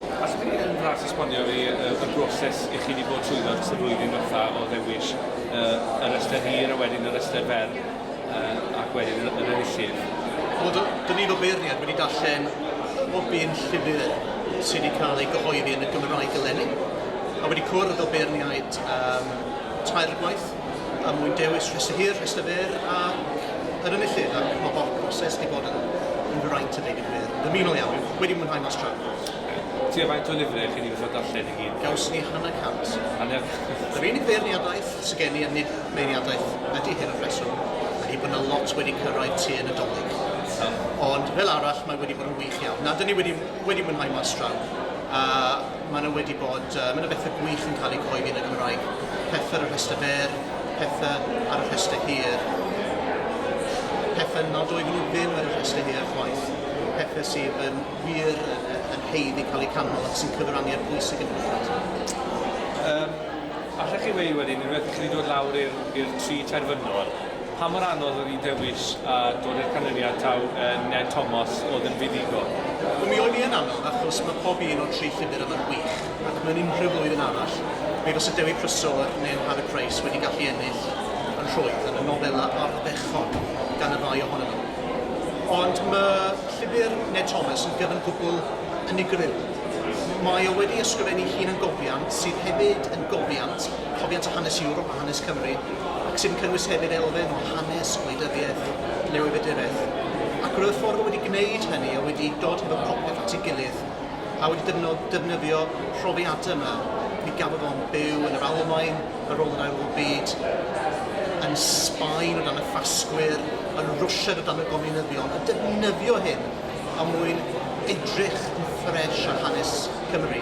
Allwch chi yn fras esbonio fi y broses i chi wedi bod trwyddo dros y flwyddyn ddiwetha' o ddewis y y restr hir a wedyn y restr fer yy ac wedyn yr yr enillydd? Wel do- do' ni fel beirniad wedi darllen bob un llyfr sy' wedi cael ei gyhoeddi yn y Gymraeg eleni a wedi cwrdd â beirniaid yym tair gwaith. Er mwyn dewis rhestr hir, rhestr fer a yr enillydd ac mae bod proses wedi bod yn yn fraint a deud y gwir. Dymunol iawn, dwi wedi mwynhau mas tra. Ocê. Tua faint o lyfrau chi wedi gorfod darllen i gyd? Gawson ni hanner cant. Hanner? Yr unig feirniadaeth sy gen i, a nid meirniadaeth ydy hyn wrth reswm, ydy bod 'na lot wedi cyrraedd tua Nadolig. Iawn. Ond fel arall mae wedi bod yn wych iawn. Na, 'dyn ni wedi wedi mwynhau mas draw. A Maen nhw wedi bod, mae yna bethau gwych yn cael eu cyhoeddi yn y Gymraeg, pethau ar y rhestr fer, pethau ar y rhestr hir, pethau nad oedden nhw ddim ar y rhestr hir chwaith, pethau sydd yn wir yn haeddu cael eu canmol ac sy'n cyfrannu at bwys y gynulliad. Yym, allech chi weu wedyn unwaith i chi wedi dod lawr i'r i'r tri terfynol, Pa mor anodd oedd i ddewis a dod i'r canlyniad taw Ned Thomas oedd yn fuddugol? Mi oedd hi yn anodd achos mae pob un o'r tri llwybr yma'n wych ac mewn unrhyw flwyddyn arall mi fysa Dewi Prysor neu Harry Price wedi gallu ennill yn rhwydd yn y nofelau ardderchog gan y ddau ohonyn nhw. Ond mae llyfr Ned Thomas yn gyfan gwbl unigryw. Mae o wedi ysgrifennu ei hun yn gofiant sydd hefyd yn gofiant, cofiant o hanes Ewrop. hanes Cymru, ac sy'n cynnwys hefyd elfen o hanes, gwleidyddiaeth, newyddiaduraeth, ac roedd y ffordd o wedi gwneud hynny o wedi dod hefo popeth at ei gilydd a wedi defnydd, defnyddio profiadau yma. Mi gafodd o'n byw yn yr Almaen ar ôl yr Ail Ryfel Byd, yn Sbaen o dan y Ffasgwyr, yn Rwsied o dan y Gominyddion, a defnyddio hyn er mwyn edrych yn ffres ar hanes Cymru.